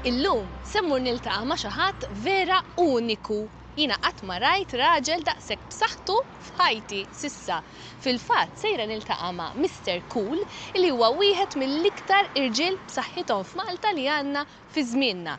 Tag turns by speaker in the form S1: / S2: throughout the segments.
S1: Illum se mmur niltaqa' ma' xi ħadd vera uniku. Jiena qatt ma rajt raġel daqshekk b'saħħtu f'ħajti s'issa. Fil-fatt sejra niltaqa' ma' Mister Cool li huwa wieħed mill-iktar irġiel b'saħħithom f'Malta li għandna fi żmienna.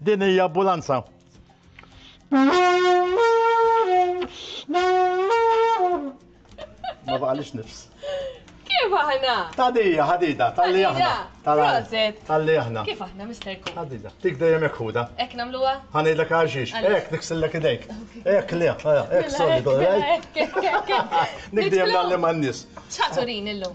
S2: Din hija ambulanza. Ma baqalix nifs. Kif
S1: aħna? Tadija, ħadida,
S2: tal-li aħna. Proset.
S1: Tal-li aħna. Kif aħna,
S2: Mr. Kuh?
S1: Ħadida. Tik dejjem jek
S2: ħuda. Ek namluwa?
S1: Ħanidlek għaxix.
S2: Ek, niksillek idejk. Ek, li, ek, solidu, ek. Nik dejjem l-għalli man-nis. ċaturin illum.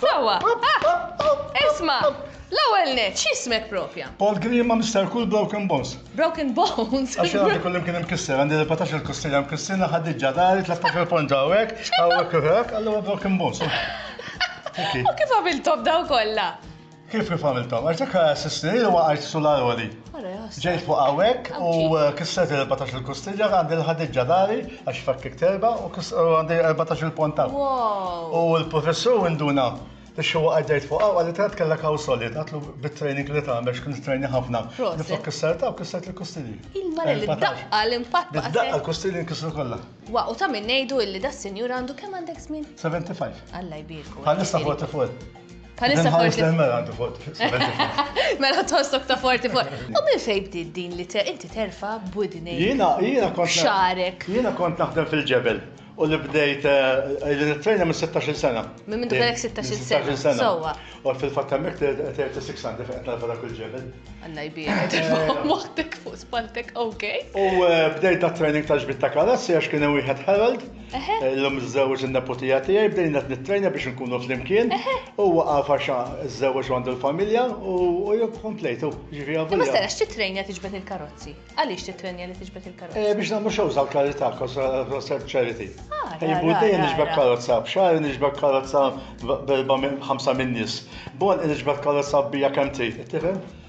S1: Sewwa, ah! Isma', l-ewwel nett, x'ismek propja? Paul Grima, Mister
S2: Cool, Broken Bones. Broken Bones?
S1: Għax jien għandi kullim kien
S2: imkisser, għandi 14-il kostilja mkissirna, ħaddiġġa dari, 13-il ponġa hawnhekk, hawnhekk u hekk, allura Broken Bones. U
S1: kif għamilthom dawn kollha? Kif kif għamilthom?
S2: Għax dak assistni li waqajt sularoli. Ġejt fuq hawnhekk u kisret 14 il-kustilja għandi l-ħadid ġadari għax fakkik terba u għandi 14 il-ponta. U l-professur induna li xi waqgħet ġejt fuq hawn għalli tant kellek hawn solid għatlu bit-training li tagħmel x'kun training ħafna. Niflok kisser ta' u kisser il-kustilji. Il-mara li daqqa
S1: l-impatt. Daqqa l-kustilji nkisru
S2: kollha. Wa u ta' min ngħidu
S1: illi da' sinjur għandu kemm għandek żmien?
S2: 75. Alla
S1: jbierku. Bħalissa 44.
S2: Bħalissa
S1: forti.
S2: Mela tħossok ta'
S1: forti forti. U minn fejn bdiet din li inti terfa' budni. Jiena jiena kont.
S2: Xarek. Jiena kont
S1: naħdem
S2: fil-ġebel u li bdejt eh, li nittrejna minn 16 sena. Minn minn kellek
S1: 16 sena. Sowa. U fil-fatt hemmhekk
S2: 36 sena fejn qed narfa dak il-ġebel. Alla jbierek,
S1: eh. moħtek fuq spaltek, ok. U eh, bdejt
S2: ta' training ta' ġbit ta' karozzi għax kien hemm wieħed Herald. Illum żżewweġ in-neputija tiegħi bdejna qed nittrejna biex inkunu flimkien. Huwa għaf għax żżewweġ għandu l-familja u jekk komplejtu. Ġifieri għafu. Ma sarax
S1: titrejna tiġbed il-karozzi. Għaliex titrejna li tiġbed il-karozzi? Eh, biex nagħmlu xewż għall-karità,
S2: konsert charity. Ah, Jibbu dejjem niġbed karozza, b'xahar niġbed karozza b'5 min-nies. Bon niġbed karozza bija kemm trid, tifhem?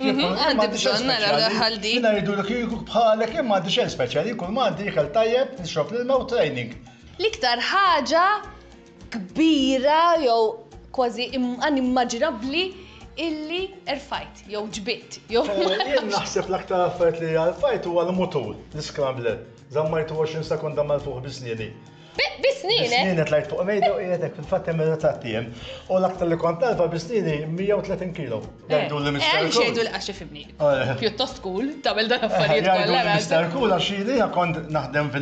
S2: Mhm,
S1: għandi bżonn nara l-ħal di. Jina jiddu li kieku
S2: bħalek imma għandi xejn speċjali, kull ma għandi ikel tajjeb, nixrob l-ilma u training. L-iktar
S1: ħaġa kbira jew kważi inimmaġinabbli illi erfajt, jew ġbitt, jew. Eh, jien naħseb
S2: l-aktar affarijiet li erfajt huwa l-mutur, l-scrambler. Zammajtu 20 sekonda mal-fuq bisnieni. Bisnieni!
S1: Bisnieni tlajt fuq
S2: mejda u qiegħed hekk fil-fatt hemm ir-ritratt jien. U l-aktar li kont nagħrfa bisnieni 130 kilo. Jgħiduli Mister Cool. Għaliex jgħiduli għax ifhimni.
S1: Pjuttost cool tagħmel dan l-affarijiet kollha. Jgħiduli Mister Cool għax
S2: jiena kont naħdem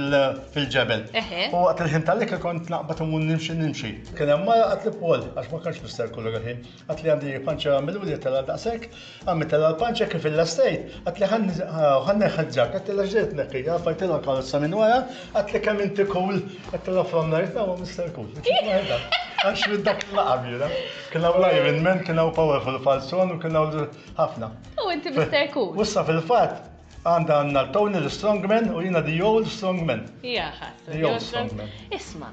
S2: fil-ġebel. U waqt il-ħin tal-ikel kont naqbad immur nimxi nimxi. Kien hemm mara qaltli Paul, għax ma kellx Mister Cool dak il-ħin, Għad li għandi panċa għamilu li tela daqsek, għammi tela l-panċa kif il-lastejt, għad li għanni ħadġak, għad li ġdejt nekki, għafajt il karozza minn wara, għad li kemm inti kull, għad li from lajt, għawa Mr. Cool. Għax minn dak il-laqabira, kien għaw Iron Man, kien għaw powerful falzon, kien għaw ħafna. U inti Mr.
S1: Cool. Ussa fil-fat,
S2: għanda għanna Tony l-Strongman u jina the old strongman. Jaha, the
S1: old strongman.
S2: Isma,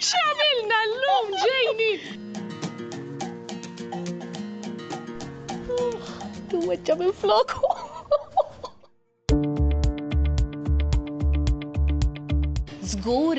S1: X'għamilna llum ġejni! Weġġa minn floku. Żgur